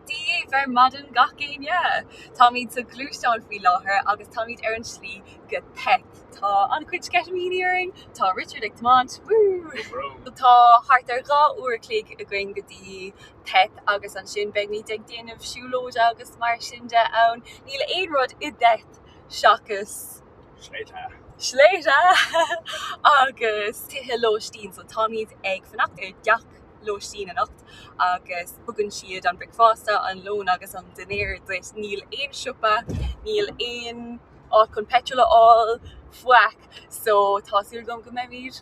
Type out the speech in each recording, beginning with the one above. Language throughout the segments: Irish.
Dia bhur maidin gach éinne! Táimid sa ghluaisteán faoi láthair agus táimid ar an slí go Tet. Tá an-chuid sceitimíní orainn! Tá Richard ag tiomáint, woo! Tá thart ar dhá uair a chloig againn go dtí Tet agus ansin beimid ag déanamh siúlóide agus mar sin de ann. Níl aon rud i dTet seachas. Sléibhte. Sléibhte agus tithe lóistín. So táimid ag fanacht i dteach lóistín anocht agus tugann siad an bricfeasta, an lón agus an dinnéar duit. Níl aon siopa, níl aon áit chun peitreal a fháil faic so tá súil agam go mbeimid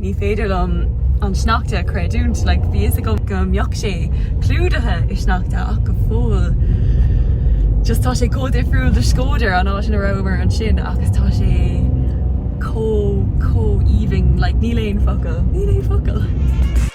Ní féidir liom an sneachta a chreidiúint, like, bhí fhios agam go mbeadh sé clúdaithe i sneachta ach go fóill just tá sé chomh difriúil do Shkodër, an áit ina rabhamar ansin agus tá sé chomh, chomh aoibhinn, like, níl aon focail, níl aon focail!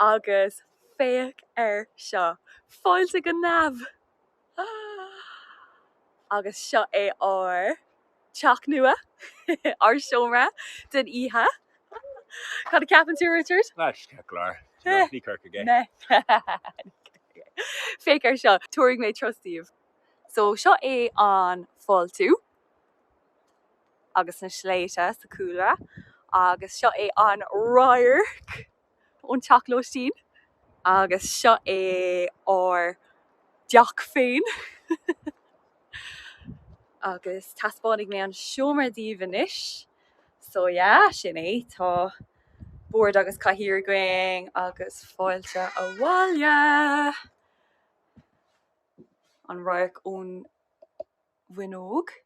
Agus féach air seo, fáilte go neamh! Agus seo é ár teach nua, ár seomra den oíche. Cad a ceapann tú, Richard? Spectacular, do you know, ní Corcaigh é. Meh, ní Corcaigh é. Féach air seo, tabharfaidh mé turas daoibh. So seo é an fáiltiú. agus na sléibhte sa chúlra agus seo é an radharc ón teach lóistín agus seo é ár dteach féin agus taispeánfaidh mé an seomra daoibh anois. So yeah, sin é, tá bord agus cathaoir againn agus fáilte abhaile! An radharc ón bhfuinneog.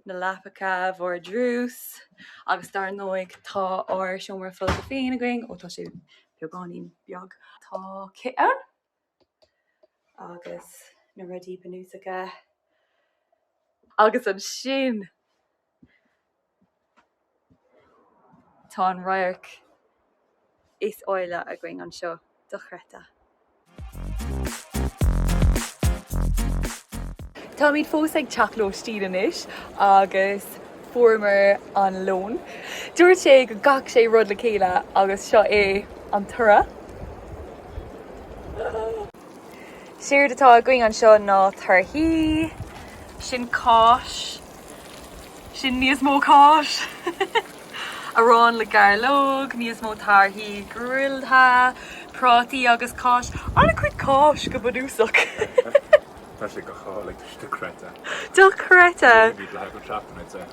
na leapacha, vardrús, agus dar ndóigh tá ár seomra folctha féin againn, ó tá sé beagáinín beag. Tá cith ann agus na rudaí bunúsacha. Agus ansin. Tá an radharc is áille againn anseo dochreidte. Táimid fós ag teacht lóistín anois agus fuaireamar an lón. Dúirt sé go gcaithfeadh sé rud le chéile agus seo é an toradh. Séard atá againn anseo ná torthaí. Sin cáis Sin níos mó cáis, arán le gairleog, níos mó torthaí grilláilte, prátaí agus cáis, an-chuid cáis go bunúsach. Tá sé go hálainn, tá sé dochreidte. Dochreidte! Ní bhíod le haghaidh an seachtain, I'd say.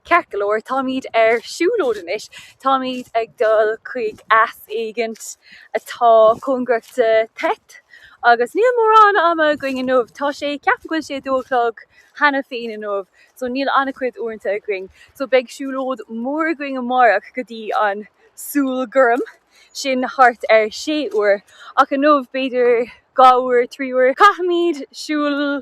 Ceart go leor, táimid ar siúlóid anois, táimid ag dul chuig eas éigint atá cóngarach do Theth, agus níl mórán ama againn inniu, tá sé, ceapaim go bhfuil sé a dó a chlog cheana féin inniu, so níl an-chuid uaireanta againn, so beidh siúlóid mór againn amárach go dtí an Súil Gorm, sin thart ar sé uair, ach inniu b'fhéidir dhá uair, trí uair, caithfimid siúl.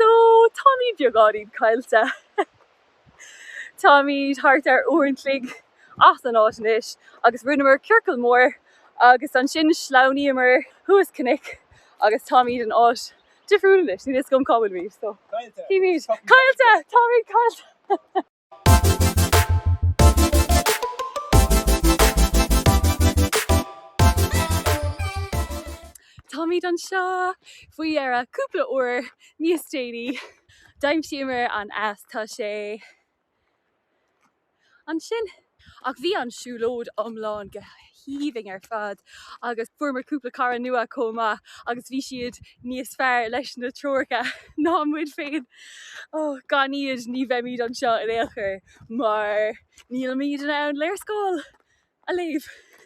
So, táimid beagáinín caillte. Táimid thart ar uair an chloig as an áit anois agus rinneamar ciorcal mór agus ansin shleamhnaíomar thuas cnoic agus táimid in áit difriúil anois. Níl a fhios agam cá bhfuilimid. So táimid caillte! Táimid caillte! Táimid anseo faoi dheireadh, cúpla uair níos déanaí. D'aimsíomar an eas, tá sé ansin. Ach bhí an siúlóid iomlán go haoibhinn ar fad agus fuaireamar cúpla cara nua chomh maith agus bhí siad níos fearr leis na treoracha ná muid féin. Gan iad ní bheimid anseo in aon chor mar nílimid in ann léarscáil a léamh!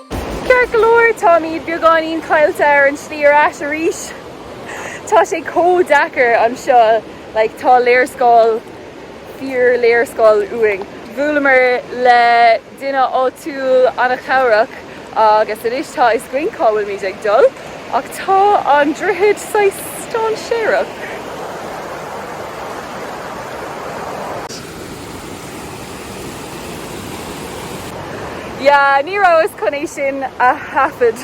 Ceart go leor, táimid beagáinín caillte ar an slí ar ais arís. Tá sé chomh deacair anseo, like, tá léarscáil, fíor-léarscáil uainn. Bhuaileamar le duine áitiúil an-chabhrach agus anois tá fhios againn cá bhfuilimid ag dul, ach tá an droichead saghas dáinséarach. Yeah, ní rabhas chun é sin a thaifead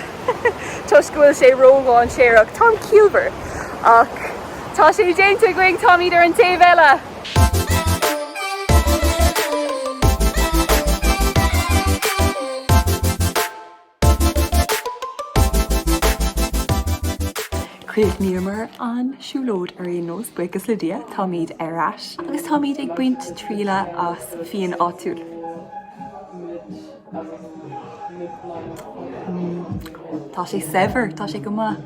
toisc go bhfuil sé ródháinséarach. Táim ciallmhar. Ach tá sé déanta againn, táimid ar an taobh eile! Chríochnaíomar an siúlóid ar aon nós, buíochas le Dia, táimid ar ais agus táimid ag baint trialla as fíon áitiúil. Tá sé saibhir, tá sé go maith.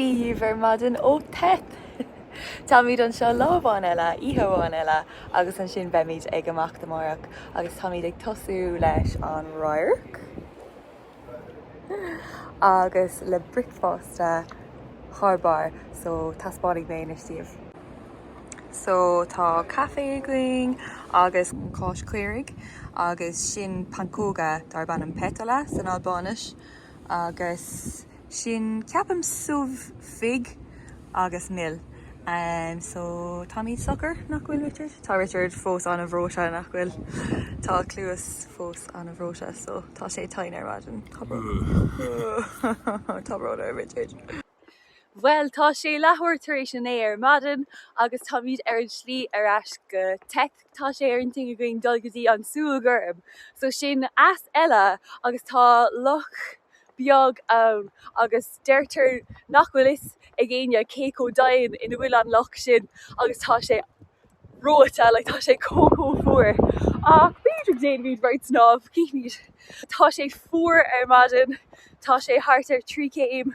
daoibh ar maidin ó Theth. Táimid anseo lá amháin eile, oíche amháin eile agus ansin beimid ag imeacht amárach agus táimid ag tosú leis an radharc agus le bricfeasta thar barr so taispeánfaidh mé anois daoibh. So tá caife againn agus cáis caoirigh agus sin pancóga darb ainm petulla san Albáinis. Agus sin, ceapaim, subh, fig agus mil. So, táimid socair, nach bhfuil, Richard? Tá Richard fós an-bhreoite, nach bhfuil? Tá a chluas fós an-bhreoite, so tá sé tinn ar maidin. Tá brón orm. Tá brón orm, Richard. Bhuel, tá sé leathuair tar éis a naoi ar maidin agus táimid ar an slí ar ais go Theth. tá sé ar intinn againn dul go dtí an tsúil ghorm, so sin eas eile agus tá loch beag ann agus deirtear nach bhfuil fhios ag éinne cé chomh domhain ina bhfuil an loch sin agus tá sé reoite, like tá sé chomh chomh fuar ach b'fhéidir go dtéanfaimid beirt snámh, cífimid. tá sé fuar ar maidin, tá sé thart ar trí céim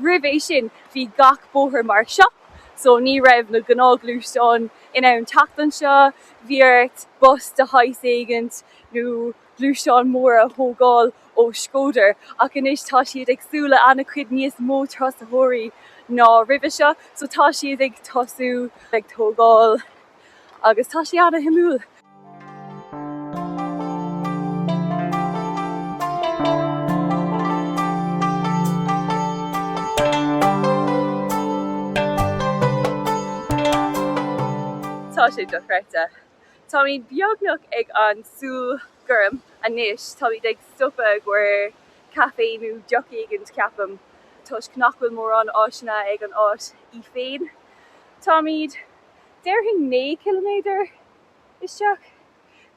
Roimh é sin, bhí gach bóthar mar seo, so ní raibh na gnáthghluaisteáin in ann teacht anseo. Bhí ort bus de shaghas éigint nó gluaisteán mór a thógáil ó Shkodër, ach anois tá siad ag súil le an-chuid níos mó turasóirí ná roimhe seo, so tá siad ag tosú ag tógáil agus tá sé an-shuimiúil. Tá sé dochreidte. Táimid beagnach ag an tsúil gorm anois, táimid ag stopadh i gcomhair caife nó deoch éigint, ceapaim, toisc nach bhfuil mórán áiseanna ag an áit í féin. Táimid déarfainn, naoi gciliméadar isteach.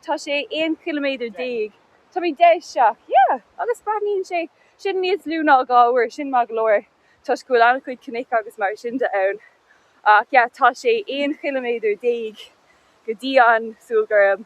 Tá sé aon chiliméadar déag. Táimid deich isteach. Yeah! Agus braitheann sé sin níos lú ná dhá uair. Sin maith go leor toisc go bhfuil an-chuid cnoic agus mar sin de ann. Ach yeah, tá sé aon chiliméadar déag go dtí an tsúil ghorm.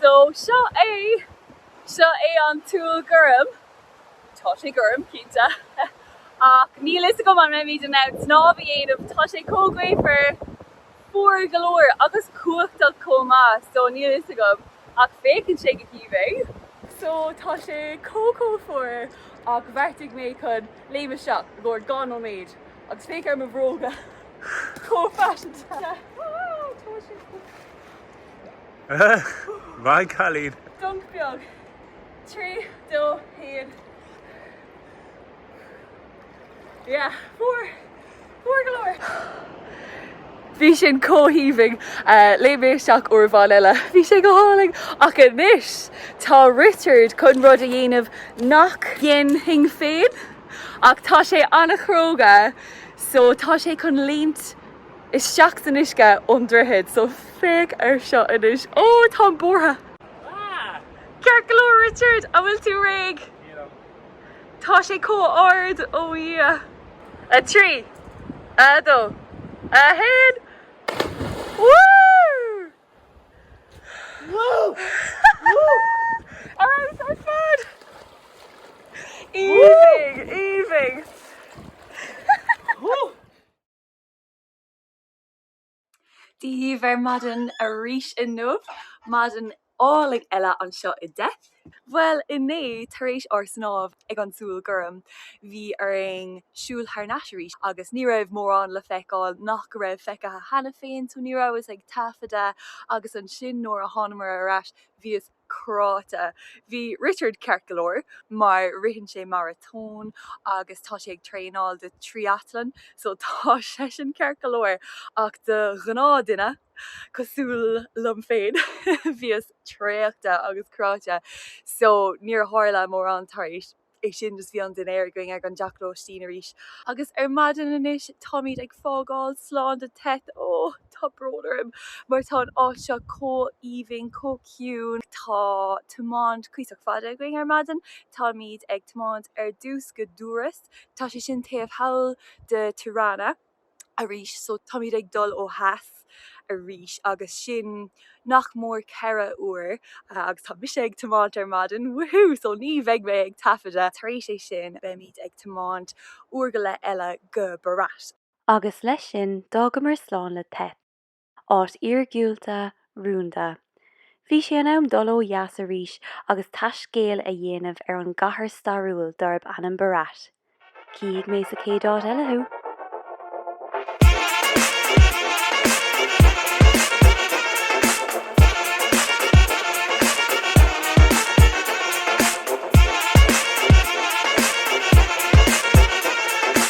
So, seo é. Seo é an tsúil ghorm. Tá sé gorm, cinnte. Ach níl 'fhios agam an mbeimid in ann snámh a dhéanamh, tá sé chomh gaofar, fuar go leor agus cumhachtach chomh maith, so níl 'fhios agam. Ach féachann sé go haoibhinn. So, tá sé chomh chomh fuar ach bheartaigh mé chun léim isteach i gcomhair dhá nóiméad Agus féach ar mo bhróga chomh faiseanta! Bye cailín! Dunc beag. Trí, dó, haon. Yeah, fuar! Fuar go leor! Bhí sin chomh haoibhinn, léim mé isteach uair amháin eile, bhí sé go hálainn! Ach anois, tá Richard chun rud a dhéanamh nach ndéanfainn féin. Ach tá sé an-chróga so tá sé chun léimt isteach san uisce ón droichead so féach ar seo anois. Oh, táim buartha! Fuck! Ceart go leor, Richard, an bhfuil tú réidh? Tá sé chomh ard, oh Dhia! A trí! A dó! A haon! Woo! Dia daoibh ar maidin arís inniu, maidin álainn eile anseo i dTheth. Bhuel inné, tar éis ár snámh, ag an súil gorm. Bhí orainn siúl thar n-ais arís agus ní raibh mórán le feiceáil nach go raibh feicthe cheana féin, so ní rabhas ag taifeadadh agus ansin nuair a thánamair ar ais bhíos cráite. Bhí Richard ceart go leor mar ritheann sé maratón agus tá sé ag traenáil do triathlon so tá seisean ceart go leor ach do ghnáthdhuine cosúil liom féin bhíos traochta agus cráite so níor tharla mórán tar éis é sin just bhí an dinnéar againn ag an dteach lóistín arís agus ar maidin anois táimid ag fágáil slán do Theth ó tá brón orm mar tá an áit seo chomh haoibhinn chomh ciúin tá tiomáint cuíosach fada againn ar maidin táimid ag tiomáint ar dtús go Durrës tá sé sin taobh thall de Tirana arís so táimid ag dul ó dheas arís agus sin nach mór ceithre uair agus tá mise ag tiomáint ar maidin woohoo so ní bheidh mé ag taifeadadh tar éis é sin beimid ag tiomáint uair go leith eile go Berat. Agus leis sin d'fhágamar slán le Theth. áit iargúlta, rúnda. Bhí sé in am dul ó dheas arís agus taiscéal a dhéanamh ar an gcathair stairiúil darb ainm Berat. Chífidh mé sa chéad áit eile thú.